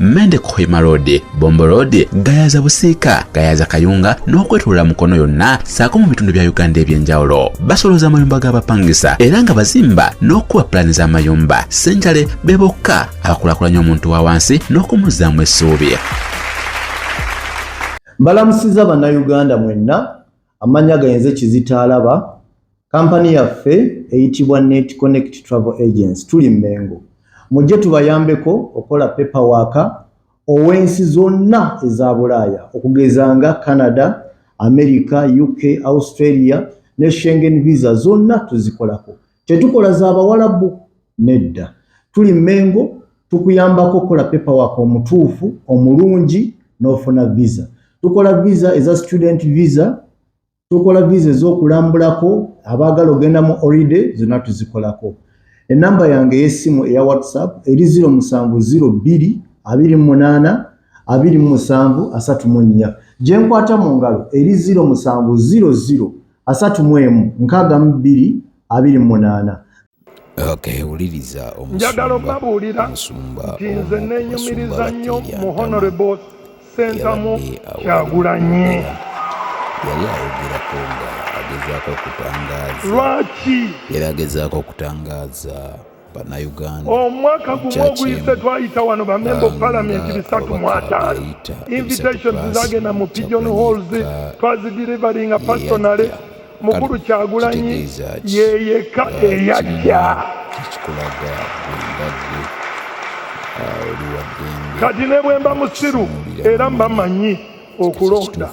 Mende Kohima Road, Bombo Road, Gayaza Busiika, Gayaza Kayunga n'okwetulula Mukono yonna saako mu bitundu bya Uganda eby'enjawulo. Basoloza amayumba g'abapangisa era nga bazimba n'okukuba pulaani z'amayumba. Ssenjale be bokka abakulaakulanya omuntu wa wansi n'okumuzzaamu essuubi. Mbalamusiza Bannayuganda mwenna Amannya gange nze Kizito Alaba. Kampani yaffe eyitibwa Net Connect Travel Agency tuli Mmengo. Mujje tubayambeko okukola paperwork ow'ensi zonna eza Bulaaya okugeza nga Canada, America, UK, Australia ne Schengen visa zonna tuzikolako. Tetukola za bawalabu nedda. Tuli Mengo tukuyambako okukola paper work omutuufu omulungi n'ofuna visa. Tukola visa eza student visa, tukola visa ez'okulambulako abaagala ogenda mu holiday zonna tuzikolako. Ennamba yange ey'essimu eya WhatsApp eri 0702 28 27 34. Gye nkwata mu ngalo eri 0700. asatu mu emu nkaaga mu bbiri abiri mu munaana njagala obabuulira nti nze nenyumiriza nnyo mu honorable sentamu kyagulanyi yali ayogerako nga agezaako okutangaaza lwaki yali agezaako okutangaaza omwaka gumu oguyise twayita wano bamemba of parliament bisatu mu ataano invitations zagenda mu pigeon halls twazidirivalinga personally mukulu kyagulanyi yeyeka eyajja kati ne bwemba musiru era mbamanyi okulonda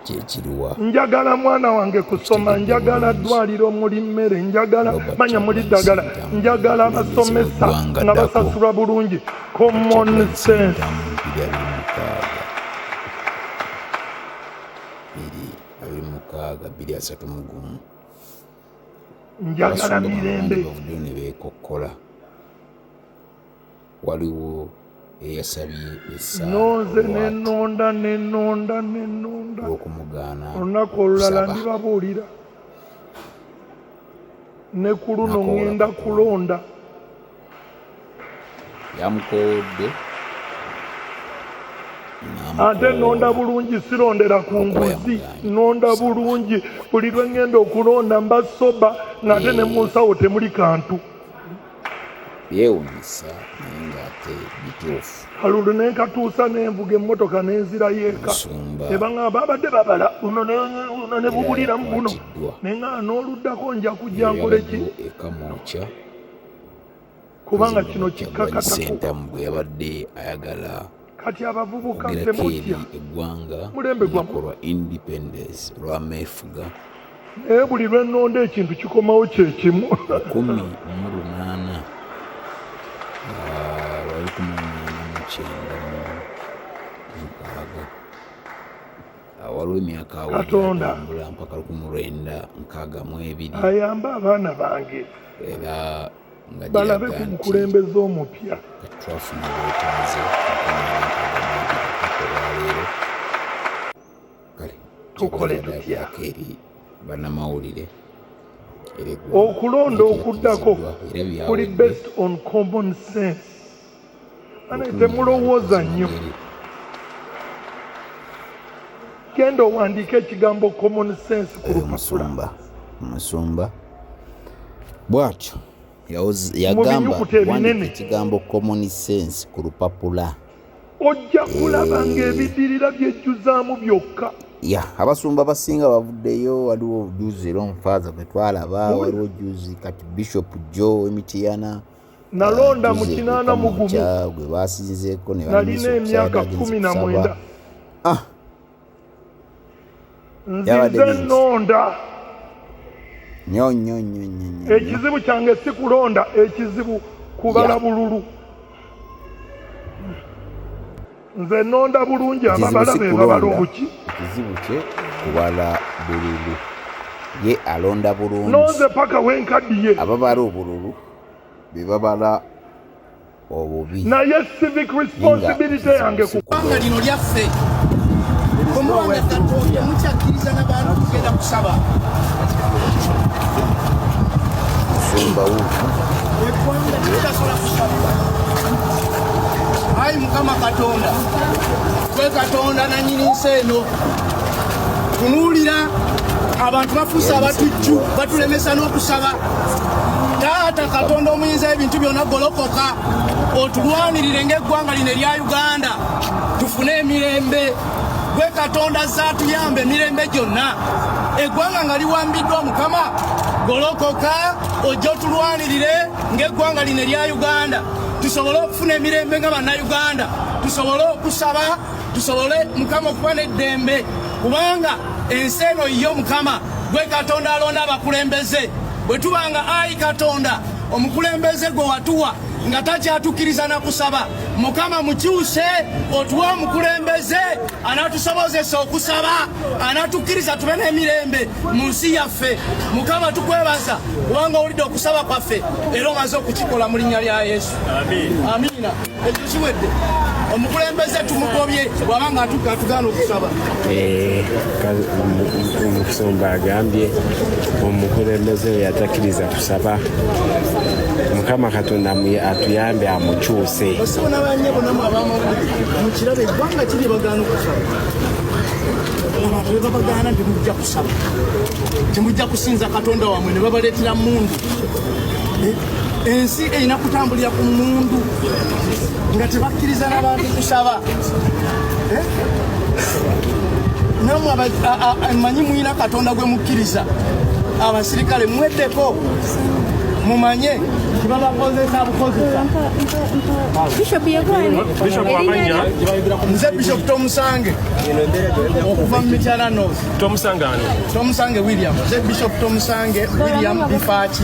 kyekiriwa njagala mwana wange kusoma njagala ddwaliro muli mmere njagala manya muli ddagala njagala basomesa nga basasulwa bulungi common sense njagala mirembe waliwo eyasabye essaaokumugaana olunaku olulala ndibabuulira ne ku luno ŋŋenda kulonda yamukoowodde ate nonda bulungi sirondera ku nguzi nonda bulungi buli lwe ŋŋenda okulonda mba soba ng'ate ne mu nsawo temuli kantu byewunyisa naye ng'ate bituufu kalundu ne nkatuusa nenvuga emmotoka nenzirayo eka nebaŋamba abadde babala buno ne bubuliramu buno naye nga n'oluddako nja kujja nkoleki ekamwokya kubanga kino kikkakatako bweyabadde ayagala kati abavubuka temutya eggwanga lunaku lwa independence lwameefuga naye buli lwenonda ekintu kikomawo kyekimu kumi mu lunaana ah, lwali kumunana mukyenda mukaaga ah, waliwo emyaka awatambula mpaka lukumulwenda nkaaga mu ebiri ayamba abaana bange era balabe ku mukulembeze omupya twafuna obwetaaze olwaleero kale tukole tutya eri bannamawulire okulonda okuddako kuli based on common sense temulowooza nnyo genda owandiika ekigambo common sense ku eh, lupapula musumba bwatyo yagamba wandika ekigambo common sense ku lupapula ojja kulaba eh. ng'ebidirira byejjuzaamu byokka ya abasumba abasinga bavuddeyo waliwo juzi era omufaaza gwe twalaba waliwo juzi kati bishop joe emitiyana nalonda mu kinaana mu gumu gwe baasinzeeko ne nalina emyaka kkumi na mwenda ah. nzize nnonda nyo nyo nyo nyo ekizibu kyange si kulonda ekizibu kubala bululu nze nnonda bulungi ababala be babala obuki ekizibu kye kubala bululu ye alonda bulungi nonze paka wenkaddiye ababala obululu be babala obubi naye civic responsibility yange kubanga lino lyaffe omuwanga katonda mukyakkiriza nabantu kugenda kusaba eggwanga tekyasobola kusabwa ayi mukama katonda gwe katonda nanyini nsi eno tunuulira abantu bafuuse abatujju batulemesa n'okusaba taata katonda omuyinza ebintu byona golokoka otulwanirire ngaeggwanga lino erya uganda tufune emirembe gwe katonda zatuyamba emirembe gyonna eggwanga nga liwambiddwa mukama golokoka ojja otulwanirire ngaeggwanga lino erya uganda tusobole okufuna emirembe nga bannayuganda tusobole okusaba tusobole mukama okuba n'eddembe kubanga ensi eno yo mukama gwe katonda alonda abakulembeze bwe tuba nga ayi katonda omukulembeze gwe watuwa nga takyatukkiriza na kusaba mukama mukyuse otuwe omukulembeze anatusobozesa okusaba anatukkiriza tube n'emirembe mu nsi yaffe mukama tukwebaza kubanga owulidde okusaba kwaffe era omaze okukikola mu linnya lya yesu amiina ekyo kiwedde omukulembeze tumugobye bwaba nga atugaana okusaba eh, omusumba agambye omukulembeze yatakiriza kusaba mukama katonda atuyambe amukyuse abantu bebabagaana ntimujja kusaba temujja kusinza katonda wamwe nebabaleetera mundu eh? ensi erina kutambulira ku mundu nga tebakkiriza nabantu kusaba eh? namwe manyi mulina katonda gwe mukkiriza abasirikale mweddeko mumanye kibabakozesa bukozesa nze bishop tomusange okuva mu mityana north tomusange william nze bishop tomusange william bifaaki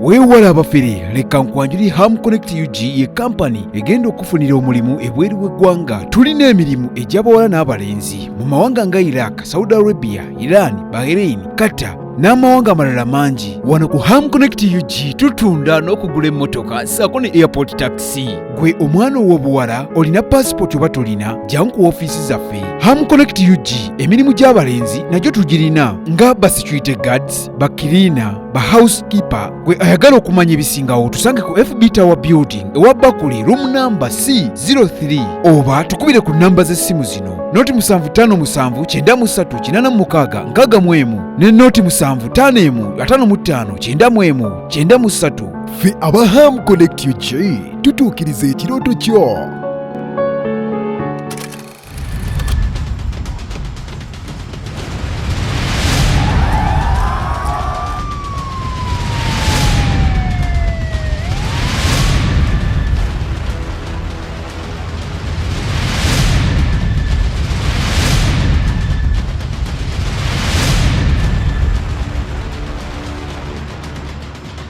weewala abafere leka nkwanjuli ham connect ug ye kampani egenda okufunira omulimu ebweru w'eggwanga tulina emirimu egy'abawala n'abalenzi mu mawanga nga iraq saudi arabia iran bahrain qatar n'amawanga amalala mangi wano ku ham connect ug tutunda n'okugula emmotoka saako ne airport taxi gwe omwana ow'obuwala olina paasipooti oba tolina jangu ku ofiisi zaffe ham connect ug emirimu gy'abalenzi nagyo tugirina nga ba security guards ba kirina ba house keeper gwe ayagala okumanya ebisingawo tusange ku fb tower building ewa bakuli room namba c 03 oba tukubire ku namba z'essimu zino noti 755936 ne noti 75 55 93 ffe aba ham connect ug tutuukiriza ekirooto kyo